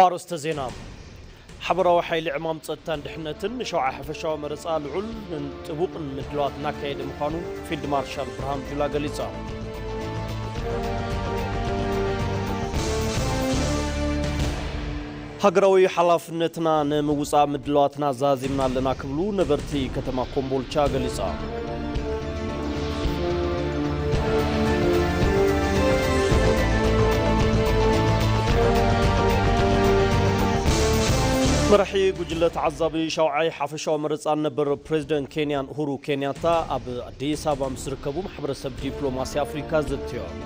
ኣርስተ ዜና ሓበራዊ ሓይሊ ዕማም ጸጥታን ድሕነትን ንሸውዓ ሓፈሻዊ መረፃ ልዑልን ጥቡቕን ምድለዋት እናካየደ ምዃኑ ፊልድ ማርሻል ብርሃኑ ጁላ ገሊጸ። ሃገራዊ ሓላፍነትና ንምውፃእ ምድላዋትና ዛዚምና ኣለና ክብሉ ነበርቲ ከተማ ኮምቦልቻ ገሊፆም። መራሒ ጉጅለ ተዓዛቢ ሻውዓይ ሓፈሻዊ መረፃን ነበር ፕሬዚደንት ኬንያን ኡሁሩ ኬንያታ ኣብ ኣዲስ ኣበባ ምስ ዝርከቡ ማሕበረሰብ ዲፕሎማሲ ኣፍሪካ ዘትዮም።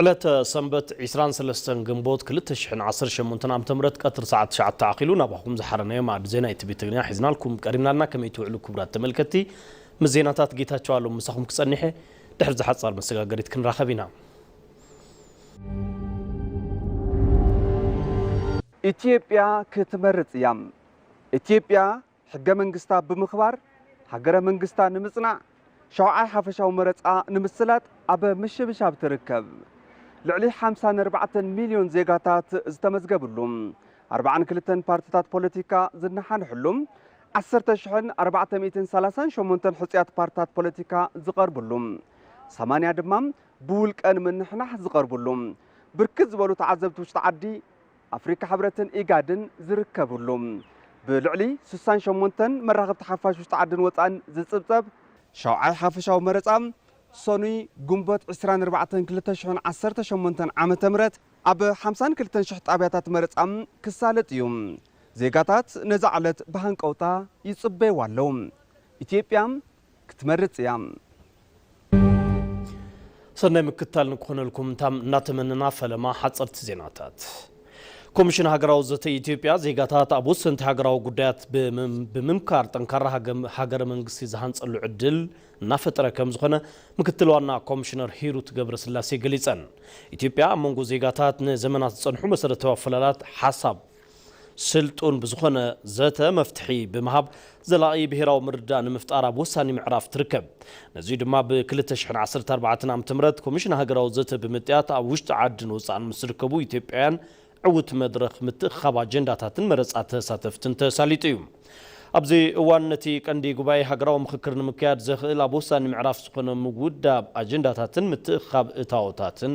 ዕለተ ሰንበት ዕስራን ሰለስተን ግንቦት ክልተ ሽሕን ዓሰርተ ሸሞንተን ዓመተ ምህረት ቀትሪ ሰዓት ትሽዓተ ኣኺሉ ናባኹም ዝሓረናዮ ማኣዲ ዜና ኢቲቪ ትግርኛ ሒዝናልኩም ቀሪብና ኣልና ከመይ ትውዕሉ ክቡራት ተመልከቲ ምስ ዜናታት ጌታቸው ኣሎም ምሳኹም ክጸኒሕ እየ ድሕሪ እዚ ሓጻር መሰጋገሪት ክንራኸብ ኢና ኢትዮጵያ ክትመርጽ እያ! ኢትዮጵያ ሕገ መንግስታ ብምኽባር ሃገረ መንግስታ ንምፅናዕ ሻውዓይ ሓፈሻዊ መረፃ ንምስላጥ ኣብ ምሽብሻብ ትርከብ። ልዕሊ ሓምሳን ኣርባዕተን ሚልዮን ዜጋታት ዝተመዝገብሉ፣ ኣርባዓን ክልተን ፓርቲታት ፖለቲካ ዝነሓንሕሉ፣ ዓሰርተ ሽሕን ኣርባዕተ ሚእትን ሰላሳን ሸሞንተን ሕፁያት ፓርቲታት ፖለቲካ ዝቐርብሉ፣ ሰማንያ ድማ ብውልቀ ንምንሕናሕ ዝቐርብሉ፣ ብርክት ዝበሉ ተዓዘብቲ ውሽጢ ዓዲ፣ ኣፍሪካ ሕብረትን ኢጋድን ዝርከብሉ ብልዕሊ ስሳን ሸሞንተን መራኸብቲ ሓፋሽ ውሽጢ ዓድን ወፃእን ዝፅብፀብ ሻውዓይ ሓፈሻዊ መረፃ ሰኑይ ግንቦት ዕስራን ኣርባዕተን ክልተ ሽሕን ዓሰርተ ሸሞንተን ዓመተ ምህረት ኣብ ሓምሳን ክልተን ሽሕ ጣብያታት መረፃ ክሳለጥ እዩ። ዜጋታት ነዛ ዕለት ብሃንቀውታ ይፅበይዋ ኣለው። ኢትዮጵያ ክትመርጽ እያ። ሰናይ ምክትታል ንክኾነልኩም ታም እናተመነና ፈለማ ሓጸርቲ ዜናታት ኮሚሽን ሃገራዊ ዘተ ኢትዮጵያ ዜጋታት ኣብ ወሰንቲ ሃገራዊ ጉዳያት ብምምካር ጠንካራ ሃገረ መንግስቲ ዝሃንጸሉ ዕድል እናፈጠረ ከም ዝኾነ ምክትል ዋና ኮሚሽነር ሂሩት ገብረስላሴ ገሊጸን። ኢትዮጵያ ኣብ መንጎ ዜጋታት ንዘመናት ዝጸንሑ መሰረታዊ ኣፈላላት ሓሳብ ስልጡን ብዝኾነ ዘተ መፍትሒ ብምሃብ ዘላቒ ብሄራዊ ምርድዳእ ንምፍጣር ኣብ ወሳኒ ምዕራፍ ትርከብ። ነዙይ ድማ ብ ክልተ ሽሕን ዓሰርተ ኣርባዕተን ዓመተ ምህረት ኮሚሽን ሃገራዊ ዘተ ብምጥያት ኣብ ውሽጢ ዓድን ወፃእን ምስ ዝርከቡ ኢትዮጵያውያን ዕውት መድረኽ ምትእኽኻብ ኣጀንዳታትን መረፃ ተሳተፍትን ተሳሊጡ እዩ። ኣብዚ እዋን ነቲ ቀንዲ ጉባኤ ሃገራዊ ምኽክር ንምክያድ ዘኽእል ኣብ ወሳኒ ምዕራፍ ዝኾነ ምውዳብ ኣጀንዳታትን ምትእኽኻብ እታዎታትን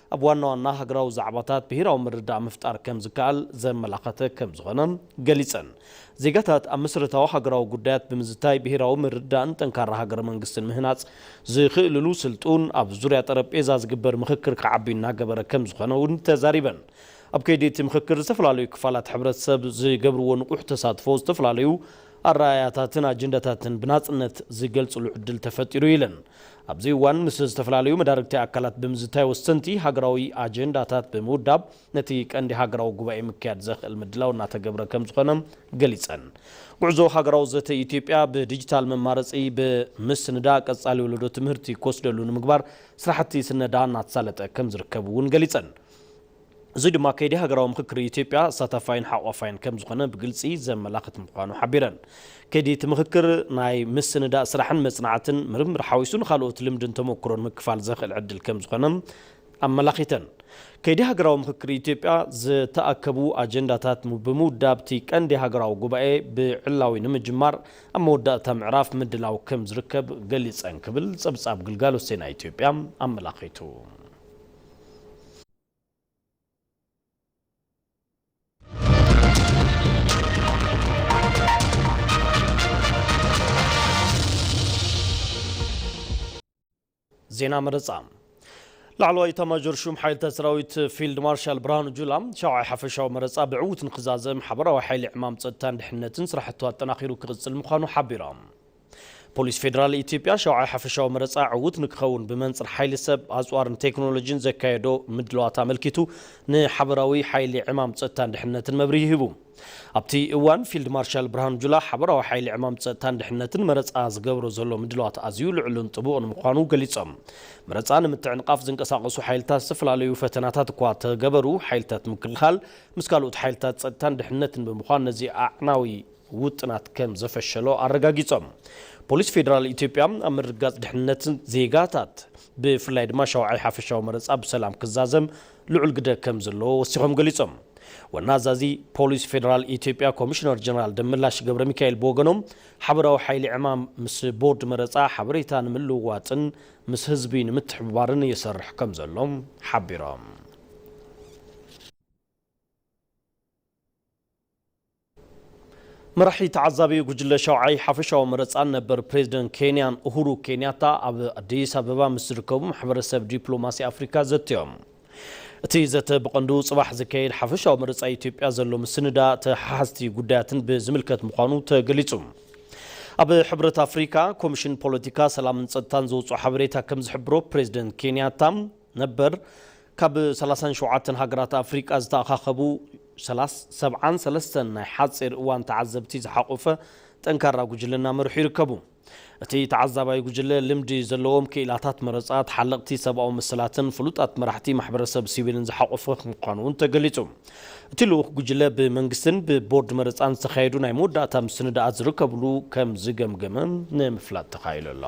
ኣብ ዋና ዋና ሃገራዊ ዛዕባታት ብሄራዊ ምርድዳእ ምፍጣር ከም ዝከኣል ዘመላኸተ ከም ዝኾነ ገሊፀን። ዜጋታት ኣብ መሰረታዊ ሃገራዊ ጉዳያት ብምዝታይ ብሄራዊ ምርድዳእን ጠንካራ ሃገረ መንግስትን ምህናፅ ዝኽእልሉ ስልጡን ኣብ ዙርያ ጠረጴዛ ዝግበር ምኽክር ክዓቢ እናገበረ ከም ዝኾነ እውን ተዛሪበን። ኣብ ከይዲ እቲ ምኽክር ዝተፈላለዩ ክፋላት ሕብረተሰብ ዝገብርዎ ንቑሕ ተሳትፎ ዝተፈላለዩ ኣረኣእያታትን ኣጀንዳታትን ብናፅነት ዝገልፅሉ ዕድል ተፈጢሩ ኢለን። ኣብዚ እዋን ምስ ዝተፈላለዩ መዳርግቲ ኣካላት ብምዝታይ ወሰንቲ ሃገራዊ ኣጀንዳታት ብምውዳብ ነቲ ቀንዲ ሃገራዊ ጉባኤ ምክያድ ዘኽእል ምድላው እናተገብረ ከምዝኾነ ገሊፀን። ጉዕዞ ሃገራዊ ዘተ ኢትዮጵያ ብዲጂታል መማረፂ ብምስንዳ ቀፃሊ ወለዶ ትምህርቲ ክወስደሉ ንምግባር ስራሕቲ ስነዳ እናተሳለጠ ከምዝርከብ እውን ገሊፀን። እዙይ ድማ ከይዲ ሃገራዊ ምኽክር ኢትዮጵያ ኣሳታፋይን ሓቋፋይን ከምዝኾነ ብግልፂ ዘመላኽት ምዃኑ ሓቢረን። ከይዲ እቲ ምኽክር ናይ ምስንዳእ ስራሕን መፅናዕትን ምርምር ሓዊሱ ንኻልኦት ልምድን ተሞክሮን ምክፋል ዘኽእል ዕድል ከምዝኾነ ኣመላኺተን። ከይዲ ሃገራዊ ምኽክር ኢትዮጵያ ዝተኣከቡ ኣጀንዳታት ብምውዳብ እቲ ቀንዲ ሃገራዊ ጉባኤ ብዕላዊ ንምጅማር ኣብ መወዳእታ ምዕራፍ ምድላው ከምዝርከብ ገሊፀን ክብል ፀብፃብ ግልጋሎት ዜና ኢትዮጵያ ኣመላኺቱ። ዜና መረፃ ላዕለዋይ ኢታማዦር ሹም ሓይልታት ሰራዊት ፊልድ ማርሻል ብርሃኑ ጁላ ሻውዓይ ሓፈሻዊ መረፃ ብዕውት ንክዛዘም ሓበራዊ ሓይሊ ዕማም ፀጥታን ድሕንነትን ስራሕቱ ኣጠናኺሩ ክቕፅል ምዃኑ ሓቢሮም። ፖሊስ ፌደራል ኢትዮጵያ ሻውዓይ ሓፈሻዊ መረፃ ዕዉት ንክኸውን ብመንፅር ሓይሊ ሰብ፣ ኣፅዋርን ቴክኖሎጂን ዘካየዶ ምድላዋት ኣመልኪቱ ንሓበራዊ ሓይሊ ዕማም ፀጥታን ድሕንነትን መብርሂ ሂቡ። ኣብቲ እዋን ፊልድ ማርሻል ብርሃኑ ጁላ ሓበራዊ ሓይሊ ዕማም ፀጥታን ድሕንነትን መረፃ ዝገብሮ ዘሎ ምድላዋት ኣዝዩ ልዑልን ጥቡቕን ምዃኑ ገሊፆም። መረፃ ንምትዕንቓፍ ዝንቀሳቐሱ ሓይልታት ዝተፈላለዩ ፈተናታት እኳ ተገበሩ ሓይልታት ምክልኻል ምስ ካልኦት ሓይልታት ፀጥታን ድሕንነትን ብምዃን ነዚ ኣዕናዊ ውጥናት ከም ዘፈሸሎ ኣረጋጊጾም። ፖሊስ ፌደራል ኢትዮጵያ ኣብ ምርግጋጽ ድሕንነት ዜጋታት ብፍላይ ድማ ሻውዓይ ሓፈሻዊ መረጻ ብሰላም ክዛዘም ልዑል ግደ ከም ዘለዎ ወሲኾም ገሊጾም። ዋና ኣዛዚ ፖሊስ ፌደራል ኢትዮጵያ ኮሚሽነር ጀነራል ደመላሽ ገብረሚካኤል ብወገኖም ሓበራዊ ሓይሊ ዕማም ምስ ቦርድ መረጻ ሓበሬታ ንምልውዋጥን ምስ ህዝቢ ንምትሕብባርን ይሰርሕ ከም ዘሎ ሓቢሮም። መራሒ ተዓዛቢ ጉጅለ ሻውዓይ ሓፈሻዊ መረፃን ነበር ፕሬዚደንት ኬንያን ኡሁሩ ኬንያታ ኣብ ኣዲስ ኣበባ ምስ ዝርከቡ ማሕበረሰብ ዲፕሎማሲ ኣፍሪካ ዘትዮም። እቲ ዘተ ብቐንዱ ፅባሕ ዝካየድ ሓፈሻዊ መረፃ ኢትዮጵያ ዘሎ ምስንዳ ተሓሓዝቲ ጉዳያትን ብዝምልከት ምዃኑ ተገሊፁ። ኣብ ሕብረት ኣፍሪካ ኮሚሽን ፖለቲካ፣ ሰላምን ፀጥታን ዘውፅኦ ሓበሬታ ከምዝሕብሮ ፕሬዚደንት ኬንያታ ነበር ካብ ሰላሳን ሸውዓተን ሃገራት ኣፍሪቃ ዝተኣኻኸቡ ሰላስ ሰብዓን ሰለስተን ናይ ሓጺር እዋን ተዓዘብቲ ዝሓቖፈ ጠንካራ ጉጅለ እናመርሑ ይርከቡ። እቲ ተዓዛባይ ጉጅለ ልምዲ ዘለዎም ክኢላታት መረጻ፣ ተሓለቕቲ ሰብኣዊ መሰላትን ፍሉጣት መራሕቲ ማሕበረሰብ ሲቪልን ዝሓቖፈ ምዃኑ እውን ተገሊጹ። እቲ ልኡኽ ጉጅለ ብመንግስትን ብቦርድ መረጻን ዝተኻየዱ ናይ መወዳእታ ምስንዳኣት ዝርከብሉ ከም ዝገምገመ ንምፍላጥ ተኻኢሉ ኣሎ።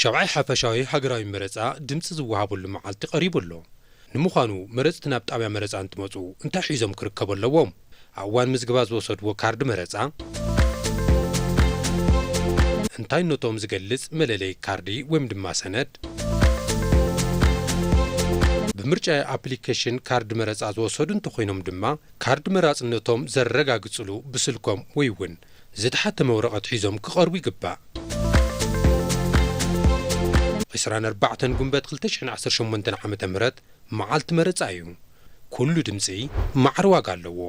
ሻብዓይ ሓፈሻዊ ሃገራዊ መረፃ ድምፂ ዝወሃበሉ መዓልቲ ቀሪቡ ኣሎ። ንምዃኑ መረፅቲ ናብ ጣብያ መረፃ እንትመፁ እንታይ ሒዞም ክርከቡ ኣለዎም? ኣብ እዋን ምዝግባ ዝወሰድዎ ካርድ መረፃ፣ እንታይነቶም ዝገልፅ መለለዪ ካርዲ ወይም ድማ ሰነድ፣ ብምርጫ ኣፕሊኬሽን ካርድ መረፃ ዝወሰዱ እንተኾይኖም ድማ ካርድ መራፅነቶም ዘረጋግፅሉ ብስልኮም ወይ እውን ዝተሓተመ ወረቐት ሒዞም ክቐርቡ ይግባእ። ዕስራን ኣርባዕተን ጉንበት ክልተ ሽሕን ዓሰርተ ሸሞንተን ዓመተ ምህረት መዓልቲ መረፃ እዩ። ኩሉ ድምጺ ማዕረ ዋጋ ኣለዎ።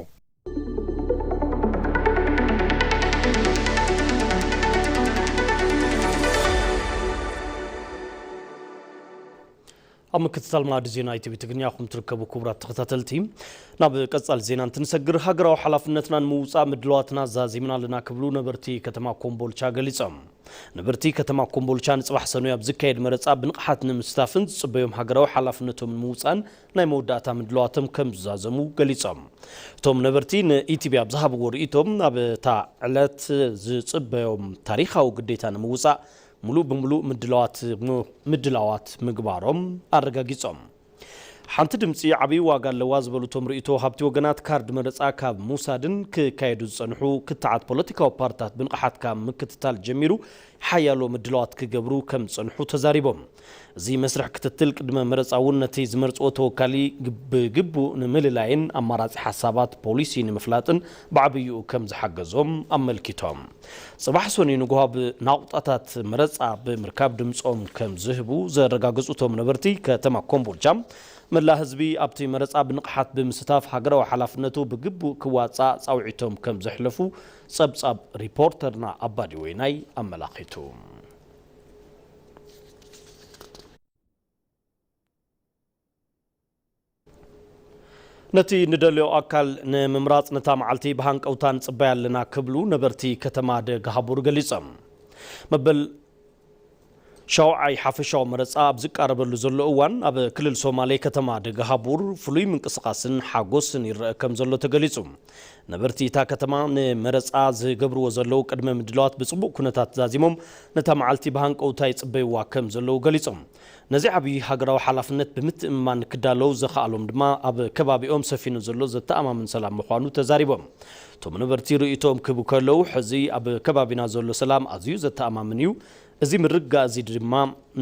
ኣብ ምክትታል ማዕዲ ዜና ኢቲቪ ትግርኛ ኹም ትርከቡ ክቡራት ተኸታተልቲ ናብ ቀጻሊ ዜና እንትንሰግር ሃገራዊ ሓላፍነትና ንምውፃእ ምድለዋትና ዛዚምና ኣለና ክብሉ ነበርቲ ከተማ ኮምቦልቻ ገሊፆም። ነበርቲ ከተማ ኮምቦልቻ ንፅባሕ ሰኑይ ኣብ ዝካየድ መረፃ ብንቕሓት ንምስታፍን ዝፅበዮም ሃገራዊ ሓላፍነቶም ንምውፃእን ናይ መወዳእታ ምድላዋቶም ከም ዝዛዘሙ ገሊፆም። እቶም ነበርቲ ንኢቲቪ ኣብ ዝሃብዎ ርእይቶ ኣብ እታ ዕለት ዝፅበዮም ታሪኻዊ ግዴታ ንምውፃእ ሙሉእ ብሙሉእ ምድላዋት ምድላዋት ምግባሮም ኣረጋጊፆም። ሓንቲ ድምፂ ዓብይ ዋጋ ኣለዋ ዝበሉ እቶም ርእይቶ ወሃብቲ ወገናት ካርድ መረፃ ካብ ምውሳድን ክካየዱ ዝፀንሑ ክትዓት ፖለቲካዊ ፓርትታት ብንቕሓት ካብ ምክትታል ጀሚሩ ሓያሎ ምድላዋት ክገብሩ ከም ዝፀንሑ ተዛሪቦም። እዚ መስርሕ ክትትል ቅድመ መረፃ እውን ነቲ ዝመርፅዎ ተወካሊ ብግቡእ ንምልላይን ኣማራፂ ሓሳባት ፖሊሲ ንምፍላጥን ብዓብይኡ ከምዝሓገዞም ኣመልኪቶም። ፅባሕ ሰኑይ ንጉሆ ኣብ ናቑጣታት መረፃ ብምርካብ ድምፆም ከምዝህቡ ዘረጋገፁ እቶም ነበርቲ ከተማ ኮምቦልቻ መላእ ህዝቢ ኣብቲ መረፃ ብንቕሓት ብምስታፍ ሃገራዊ ሓላፍነቱ ብግቡእ ክዋፃእ ፃውዒቶም ከምዘሕለፉ ፀብፃብ ሪፖርተርና ኣባዲ ወይናይ ኣመላኺቱ። ነቲ ንደልዮ ኣካል ንምምራፅ ነታ መዓልቲ ብሃንቀውታ ንፅበያ ኣለና ክብሉ ነበርቲ ከተማ ደግሃቡር ገሊፆም። መበል ሻውዓይ ሓፈሻዊ መረፃ ኣብ ዝቃረበሉ ዘሎ እዋን ኣብ ክልል ሶማሌ ከተማ ደግሃቡር ፍሉይ ምንቅስቓስን ሓጎስን ይረኣ ከምዘሎ ተገሊፁ። ነበርቲ እታ ከተማ ንመረፃ ዝገብርዎ ዘለዉ ቅድመ ምድላዋት ብፅቡቕ ኩነታት ዛዚሞም ነታ መዓልቲ ብሃንቀውታ ይፅበይዋ ከም ዘለዉ ገሊፆም። ነዚ ዓብዪ ሃገራዊ ሓላፍነት ብምትእምማን ክዳለዉ ዘኽኣሎም ድማ ኣብ ከባቢኦም ሰፊኑ ዘሎ ዘተኣማምን ሰላም ምዃኑ ተዛሪቦም። እቶም ነበርቲ ርእይቶኦም ክህቡ ከለዉ ሕዚ ኣብ ከባቢና ዘሎ ሰላም ኣዝዩ ዘተኣማምን እዩ፣ እዚ ምርግጋእ እዚ ድማ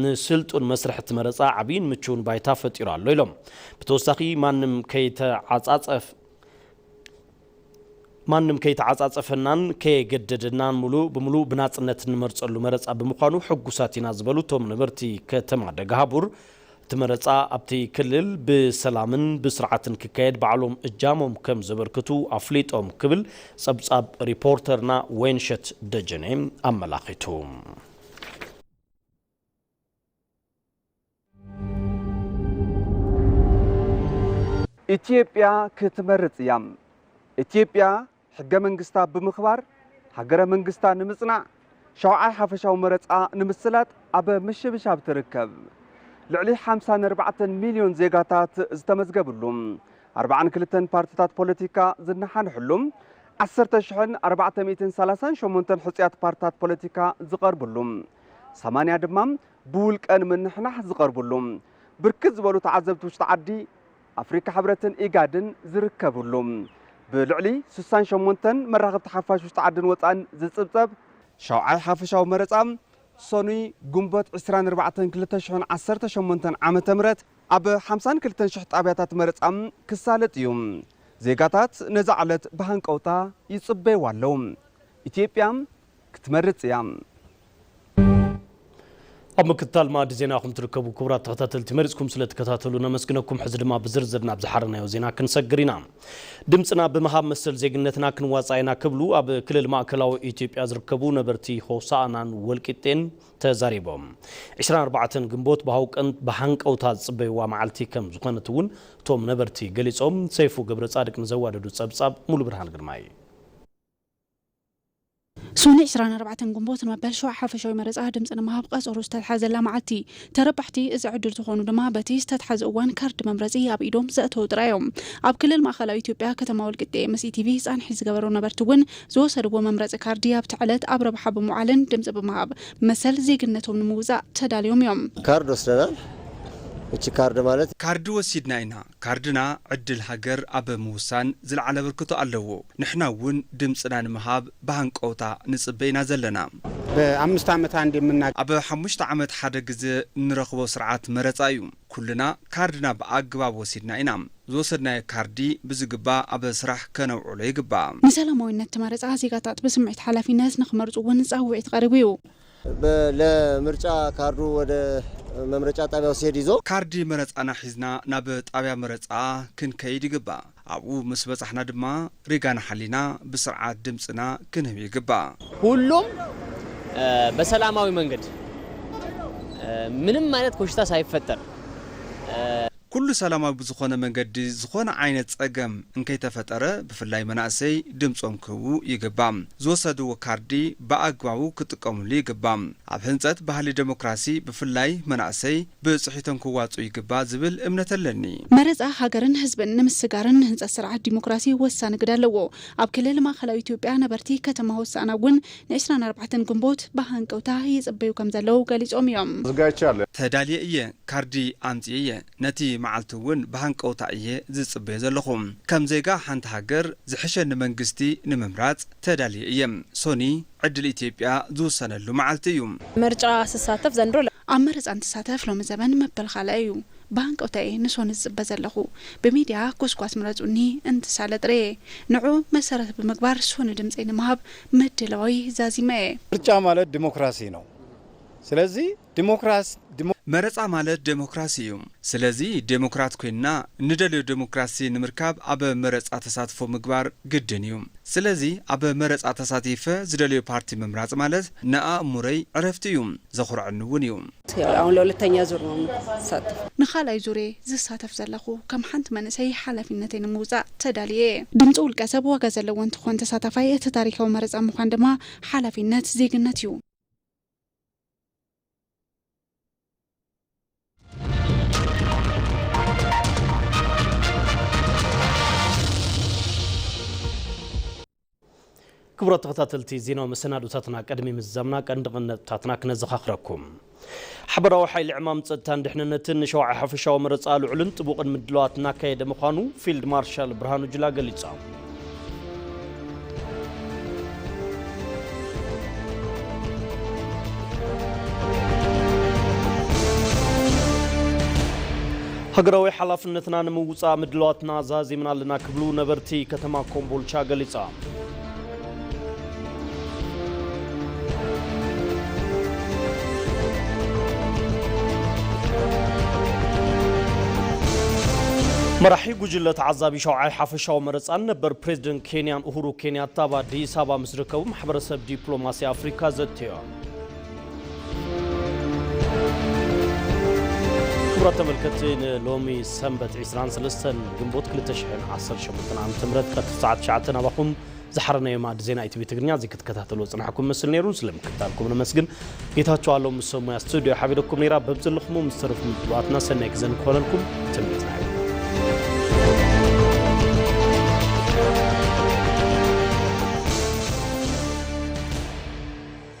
ንስልጡን መስርሕ እቲ መረፃ ዓብዪን ምቹውን ባይታ ፈጢሩ ኣሎ ኢሎም። ብተወሳኺ ማንም ከይተዓፃፀፍ፣ ማንም ከይተዓፃፀፈናን ከየገደደናን ሙሉእ ብሙሉእ ብናፅነት እንመርፀሉ መረፃ ብምዃኑ ሕጉሳት ኢና ዝበሉ እቶም ነበርቲ ከተማ ደግሃቡር፣ እቲ መረፃ ኣብቲ ክልል ብሰላምን ብስርዓትን ክካየድ ባዕሎም እጃሞም ከምዘበርክቱ ኣፍሊጦም ክብል ፀብፃብ ሪፖርተርና ወይንሸት ደጀኔ ኣመላኺቱ። ኢትዮጵያ ክትመርፅ እያ። ኢትዮጵያ ሕገ መንግስታ ብምኽባር ሃገረ መንግስታ ንምፅናዕ ሻውዓይ ሓፈሻዊ መረፃ ንምስላጥ ኣብ ምሽብሻብ ትርከብ። ልዕሊ 54 ሚሊዮን ዜጋታት ዝተመዝገብሉ 42 ፓርቲታት ፖለቲካ ዝነሓንሕሉ 10,438 ሕፁያት ፓርቲታት ፖለቲካ ዝቐርብሉ ሰማንያ ድማ ብውልቀ ንምንሕናሕ ዝቐርብሉ፣ ብርክት ዝበሉ ተዓዘብቲ ውሽጢ ዓዲ፣ ኣፍሪካ ሕብረትን ኢጋድን ዝርከብሉ፣ ብልዕሊ ስሳን ሸሞንተን መራኸብቲ ሓፋሽ ውሽጢ ዓድን ወፃእን ዝፅብፀብ፣ ሻውዓይ ሓፈሻዊ መረፃ ሰኑይ ግንቦት ዕስራን ኣርባዕተን ክልተ ሽሕን ዓሰርተ ሸሞንተን ዓመተ ምህረት ኣብ ሓምሳን ክልተን ሽሕ ጣብያታት መረፃ ክሳለጥ እዩ። ዜጋታት ነዛ ዕለት ብሃንቀውታ ይፅበይዋ ኣለው። ኢትዮጵያ ክትመርጽ እያ። ኣብ ምክትታል መኣዲ ዜና ኹም ትርከቡ ክቡራት ተኸታተልቲ መሪፅኩም ስለትከታተሉ ነመስግነኩም ሕዚ ድማ ብዝርዝር ናብ ዝሓረናዮ ዜና ክንሰግር ኢና ድምፅና ብምሃብ መሰል ዜግነትና ክንዋፃእ ኢና ክብሉ ኣብ ክልል ማእከላዊ ኢትዮጵያ ዝርከቡ ነበርቲ ሆሳእናን ወልቂጤን ተዛሪቦም 24 ግንቦት ብሃውቀን ብሃንቀውታ ዝፅበይዋ መዓልቲ ከም ዝኾነት እውን እቶም ነበርቲ ገሊፆም ሰይፉ ገብረፃድቅ ንዘዋደዱ ፀብፃብ ሙሉ ብርሃን ግርማይ ሶኒ ዕስራን ኣርባዕተን ግንቦት ንመበል ሽውዓ ሓፈሻዊ መረፃ ድምፂ ንምሃብ ቐፀሮ ዝተትሓዘላ መዓልቲ እይ። ተረባሕቲ እዚ ዕድል ዝኾኑ ድማ በቲ ዝተትሓዘ እዋን ካርድ መምረፂ ኣብ ኢዶም ዘእተዉ ጥራይ እዮም። ኣብ ክልል ማእኸላዊ ኢትዮጵያ ከተማ ወልቂጤ ምስ ኢቲቪ ፃንሒት ዝገበሩ ነበርቲ እውን ዝወሰድዎ መምረፂ ካርዲ ኣብቲ ዕለት ኣብ ረብሓ ብምውዓልን ድምፂ ብምሃብ መሰል ዜግነቶም ንምውፃእ ተዳልዮም እዮም። ካርድ ወስደናል። እቺ ካርድ ማለት። ካርዲ ወሲድና ኢና። ካርድና ዕድል ሃገር ኣብ ምውሳን ዝለዓለ ኣበርክቶ ኣለዎ። ንሕና እውን ድምፅና ንምሃብ ብሃንቀውታ ንፅበ ኢና ዘለና። በኣምስት ዓመት ኣንዴ የምና። ኣብ ሓሙሽተ ዓመት ሓደ ግዘ እንረኽቦ ስርዓት መረፃ እዩ። ኩልና ካርድና ብኣግባብ ወሲድና ኢና። ዝወሰድናዮ ካርዲ ብዝግባእ ኣብ ስራሕ ከነውዕሎ ይግባእ። ንሰላማዊነት እቲ መረፃ ዜጋታት ብስምዒት ሓላፊነት ንክመርፁ እውን ፃውዒት ቐሪቡ እዩ። ለ ምርጫ ካርዱ ወደ መምረጫ ጣቢያው ሲሄድ ይዞ። ካርዲ መረጻና ሒዝና ናብ ጣቢያ መረጻ ክንከይድ ይግባእ። ኣብኡ ምስ በጻሕና ድማ ሪጋና ሓሊና ብስርዓት ድምጽና ክንህብ ይግባእ። ሁሉም በሰላማዊ መንገድ ምንም ዓይነት ኮሽታ ሳይፈጠር። ኩሉ ሰላማዊ ብዝኾነ መንገዲ ዝኾነ ዓይነት ፀገም እንከይተፈጠረ ብፍላይ መናእሰይ ድምፆም ክህቡ ይግባእ። ዝወሰድዎ ካርዲ ብኣግባቡ ክጥቀምሉ ይግባእ። ኣብ ህንፀት ባህሊ ደሞክራሲ ብፍላይ መናእሰይ ብፅሒቶም ክዋፅኡ ይግባእ ዝብል እምነት ኣለኒ። መረፃ ሃገርን ህዝብን ንምስግጋርን ንህንፀት ስርዓት ዲሞክራሲ ወሳኒ ግደ ኣለዎ። ኣብ ክልል ማእኸላዊ ኢትዮጵያ ነበርቲ ከተማ ሆሳእና እውን ንዕስራን ኣርባዕተን ግንቦት ብሃንቀውታ ይጽበዩ ከምዘለዉ ገሊጾም እዮም። ተዳልየ እየ ካርዲ ኣምጺኤ እየ ነቲ መዓልቲ እውን ብሃንቀውታ እየ ዝጽበዮ ዘለኹ ከም ዜጋ ሓንቲ ሃገር ዝሕሸኒ መንግስቲ ንምምራጽ ተዳልየ እየ ሶኒ ዕድል ኢትዮጵያ ዝውሰነሉ መዓልቲ እዩ። ምርጫ ስሳተፍ ዘንድሮ። ኣብ መረጻ እንትሳተፍ ሎሚ ዘበን መበል ኻልኣይ እዩ ብሃንቀውታ እየ ንሶኒ ዝጽበ ዘለኹ ብሚድያ ጎስጓስ ምረጹኒ እንትሳለጥ ርእየ ንዕኡ መሰረት ብምግባር ሶኒ ድምጸይ ንምሃብ ምድላወይ ዛዚመ እየ። ምርጫ ማለት ዲሞክራሲ ነው ስለዚ ዲሞክራሲ። መረፃ ማለት ዴሞክራሲ እዩ ስለዚ ዴሞክራት ኮይንና ንደልዮ ዴሞክራሲ ንምርካብ ኣብ መረፃ ተሳትፎ ምግባር ግድን እዩ ስለዚ ኣብ መረፃ ተሳቲፈ ዝደልዮ ፓርቲ ምምራፅ ማለት ንኣእሙረይ ዕረፍቲ እዩ ዘኹረዐኒ እውን እዩ። ንኻልኣይ ዙር'የ ዝሳተፍ ዘለኹ። ከም ሓንቲ መንእሰይ ሓላፊነተይ ንምውፃእ ተዳሊየ'የ። ድምፂ ውልቀሰብ ዋጋ ዘለዎ እንትኾን ተሳታፋይ እቲ ታሪካዊ መረፃ ምዃን ድማ ሓላፊነት፣ ዜግነት፣ ዩ። ክቡራት ተኸታተልቲ ዜናዊ መሰናዶታትና ቅድሚ ምዝዛምና ቀንዲ ቀንዲ ነጥብታትና ክነዘኻኽረኩም። ሓበራዊ ሓይሊ ዕማም ጸጥታን ድሕንነትን ንሸውዓይ ሓፈሻዊ መረጻ ልዑልን ጥቡቕን ምድላዋት እናካየደ ምዃኑ ፊልድ ማርሻል ብርሃኑ ጁላ ገሊጾም። ሃገራዊ ሓላፍነትና ንምውፃእ ምድላዋትና ዛዚምና ኣለና ክብሉ ነበርቲ ከተማ ኮምቦልቻ ገሊፆም። መራሒ ጉጅለ ተዓዛቢ ሻውዓይ ሓፈሻዊ መረፃን ነበር ፕሬዚደንት ኬንያን ኡሁሩ ኬንያታ ኣብ ኣዲስ ኣበባ ምስ ዝርከቡ ማሕበረሰብ ዲፕሎማሲ ኣፍሪካ ዘትዮም። ክቡራት ተመልከቲ ንሎሚ ሰንበት 23 ግንቦት 2018 ዓ ም ቀትሪ ሰዓት 9 ናባኹም ዝሓረናዮ ማዕድ ዜና ኢቲቪ ትግርኛ እዚ ክትከታተሉ ፅናሕኩም ምስል ነይሩ ስለምክታልኩም ነመስግን ጌታቸው ኣሎ ምስ ሰብ ሙያ ስቱድዮ ሓቢረኩም ነይራ በብዘለኹሞ ምስ ተረፉ ምድባትና ሰናይ ግዘ ንክኾነልኩም ትምኒትና እዩ